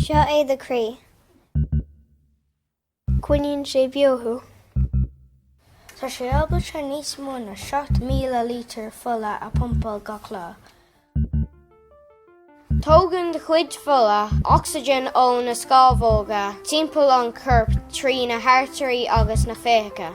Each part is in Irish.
Seo é do chroí. Coinníonn sé beo thú. Tá sé ábalta níos mó ná 7,000 lítear fola a phumpáil gach lá. Tógann do chuid fola ocsaigin ó na scámhóga timpeall an choirp trí na hartairí agus na féitheacha.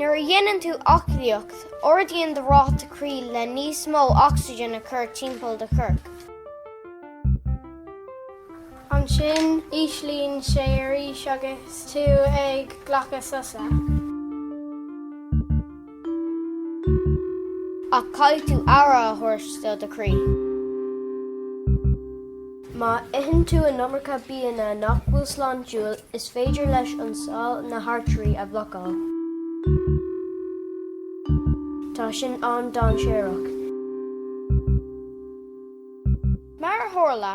Nuair a dhéanann tú aclaíocht, ardaíonn do ráta croí le níos mó ocsaigin a chur timpeall do choirp. Ansin, íslíonn sé arís agus tú ag glacadh sosa. Ach caithfidh tú aire a thabhairt do do chroí. Má itheann tú an iomarca bianna nach bhfuil sláintiúil, is féidir leis an sáill na hartairí a bhlocáil. Tá sin an-dainséarach. Mar a tharla,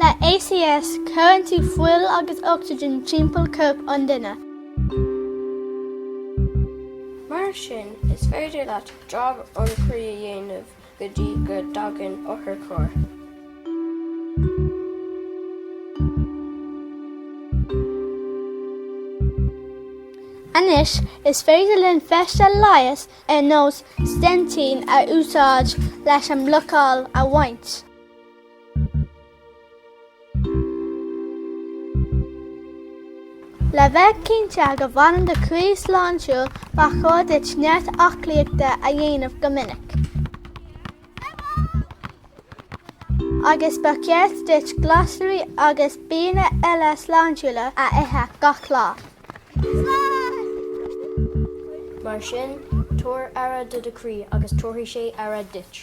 Le ACS, cuireann tú fuil agus ocsaigin timpeall corp an duine. Mar sin, is féidir leat jab an chroí a dhéanamh go dtí go dtagann otharcharr. Anois, is féidir linn feisteas leighis ar nós steintín a úsáid leis an mblocáil a bhaint. Le bheith cinnte go bhfanann do chroí sláintiúil, ba chóir duit neart aclaíochta a dhéanamh go minic. Agus ba cheart duit glasraí agus bianna eile sláintiúla a ithe gach lá. Mar sin, tabhair aire do do chroí agus tabharfaidh sé aire duit.